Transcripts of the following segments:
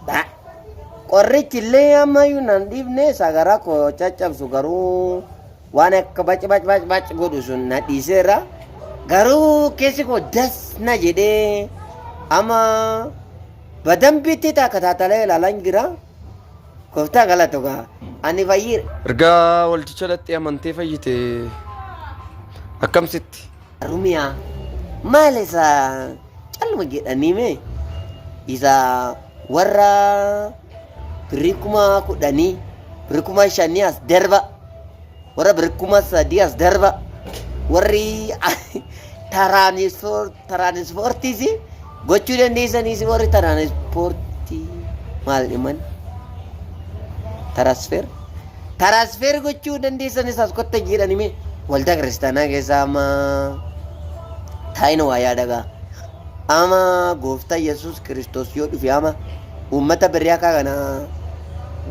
Ba. Qorrichi illee ammayyuu nan dhiifne sagara koo caccabsu garuu waan akka bac bac bac bac godhu sun na dhiiseera. Garuu keessi koo das na jedhee amma badambiitti takka taatalee ilaalan jira. Gooftaa galatu gaa ani fayyiira. Erga waldicha dhaxxee amantee fayyite akkamsitti? Harumiya maal isa calluma jedhanii mee isa warra birrii kuma kudhanii birrii kuma shanii as darba warra birrii kuma sadii as darba warri taraanispoortiis Gochuu dandeessan isin warri tiraansipoortii maal dhiman? Tiraasfeer. Tiraasfeer gochuu dandeessan isaas kotta jedhani mee waldaa kiristaanaa keessaa amma taa'ina waa yaadagaa. Ama gooftaa Yesuus Kiristoos yoo dhufe ama Uummata birrii akka kanaa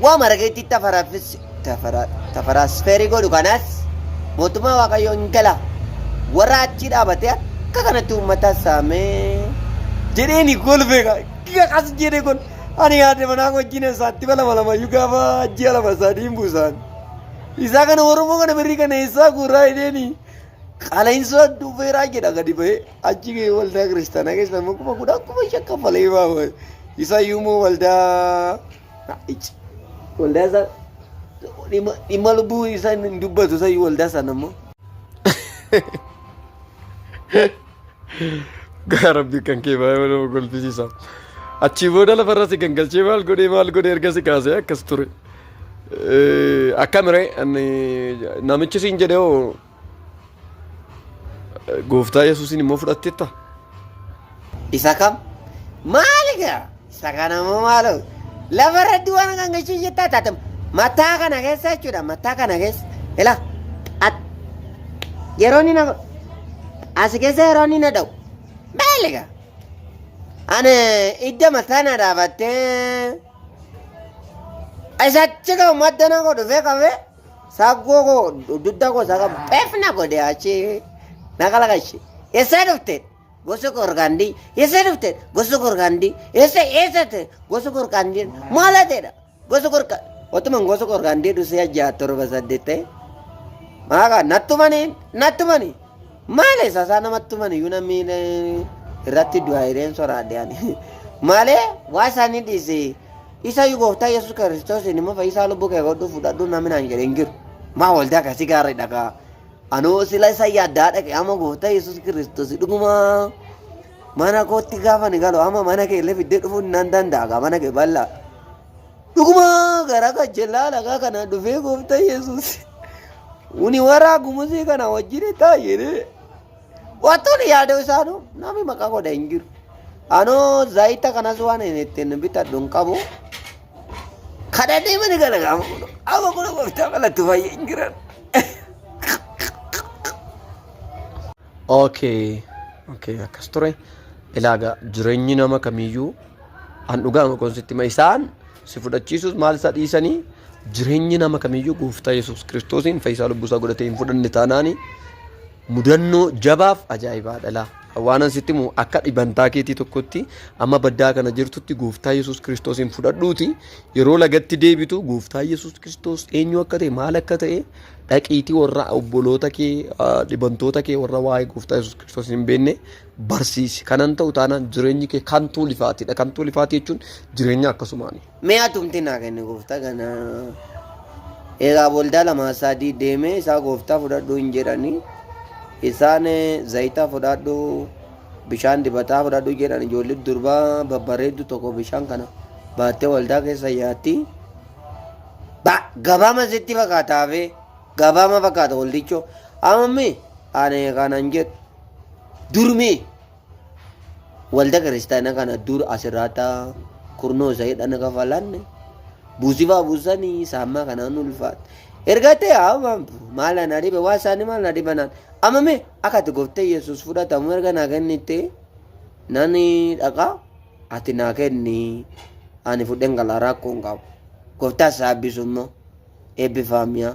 waan marageetti tafaraafis tafara- tafaraasfeerii godhu kanaas mootummaa waaqayyoo hin gala warra achii dhaabatee akka kanatti uummata saamee jedheeni kolfee ka- giga kas jedhe kun ani yaade manaa wajjin isaatti balama lamayyuu gaafa ji'a lama sadii hin buusaan isaa kana oromoo kana birrii kana eessaa guuraa jedheeni qala'insoo dhufeeraa jedha gadi bahee Achi gahee waldaa kiristaanaa keessa immoo kuma kudha kuma shan kaffalee ba'a. Isa iyyuu immoo waldaa ici waldaa isaa dhimma dhimma lubbuu isaa hin dubbatu isa iyyuu waldaa sana immoo. Gaa rabbi kan kee baay'ee nama kolfisiisa. Achii booda lafarra si gangalchee maal godhee maal godhee erga si kaasee akkas ture. Akkamire namichi siin jedhee hoo Gooftaa Yesuusiin immoo fudhatteetta? Isa kam? Maali gaa? Isa kana immoo maaloo? Lafa irratti waan kan gachuu jettaa taate mataa kana keessa jechuudha mataa kana keessa. Ila at yeroo inni na as keessa yeroo inni na dha'u maali gaa? Ani idda mataa na dhaabattee isa achi ka'u madda na godhu fee qabee. Saggoo koo dudda koo saga pef na godhe achi na kalaqachi. Eessaa dhufte gosa gorgaandii eessaa dhufte gosa gorgaandii eessa eessa ta'e gosa gorgaandii maala ta'edha gosa gorga otuman gosa gorgaandii dhusee ajjaa torba saddeet ta'e maaqa nattumani nattumani maale sasaa namattumani iyyuu namni eh, irratti du'aa hireen soraadhe ani maalee waa isaanii dhiisee Isa iyyuu gooftaa Yesuus Kiristoosiin immoo fayyisaa lubbuu kee godhuu fudhadhuu namni naan jedhe hin jiru. Maa waldaa akkasii gaarri dhagaa. Anoo sila isa yaaddaa dhaqe amma gooftaa Yesuus Kiristoos dhugumaa mana kootti gaafa ni galu amma mana kee illee fiddee dhufuu nan danda'a gaa mana kee bal'aa. Dhugumaa gara gajjellaa lagaa kana dhufee gooftaa Yesuus. Uni waraa gumusii kana wajjin taa'ee. Wantoonni yaadoo isaanuu namni maqaa godha hin jiru. Anoo zayita kanas waan hin ittiin bitadhu hin qabu. Kana deemani kana gaafa godhu. Amma kun gooftaa malatti fayyee hin jiran. Okay. Okay, akkas ture. Ilaaga jireenyi nama kamiyyuu an dhugaa makoon sitti ma isaan si fudhachiisuus maal isa dhiisanii jireenyi nama kamiyyuu gooftaa Yesuus Kiristoosiin fayyisaa lubbuusaa godhatee hin fudhanne taanaanii Mudannoo jabaaf ajaa'ibaa dhalaa. Waanan sitti himu akka dhibantaa keetii tokkotti amma baddaa kana jirtutti gooftaa Yesuus Kiristoosiin fudhadhuuti yeroo lagatti deebitu gooftaa Yesuus Kiristoos eenyu akka ta'e maal akka ta'e dhaqiitii warra obboloota kee dhibantoota kee warra waa'ee gooftaa Yesuus Kiristoos hin beekne barsiisi. Kanan ta'u taanaan jireenyi kee kan tuulifaatidha. Kan tuulifaatii jechuun jireenya akkasumaani. Mee atumti naa kenni gooftaa kana. Egaa waldaa lamaa sadii deemee isaa gooftaa fudhadhu hin jedhani. Isaan eh, zayita fudhadhu bishaan dibataa fudhadhu jedhan ijoollee durbaa babbareeddu tokko bishaan kana baattee waldaa keessa yaatti. Ba gabaama sitti fakkaata hafee gabaama fakkaata waldichoo. Amammi ani kanan jedhu durmii. walda kiristaana kana dur asirraata kurnoo isa jedhan kafalanne buusifaa buusanii saammaa kanaan ulfaata. Erga ta'e haamam maal ana dhibe waa isaanii maal na dhibanaan amma mee akka ati goftee yesus fudhatamu erga naa kennitte nani dhaqaa ati naa kenni ani fudhen gala rakkoo hin qabu goftaa isaa eebbisu immoo eebbifaamiyaa.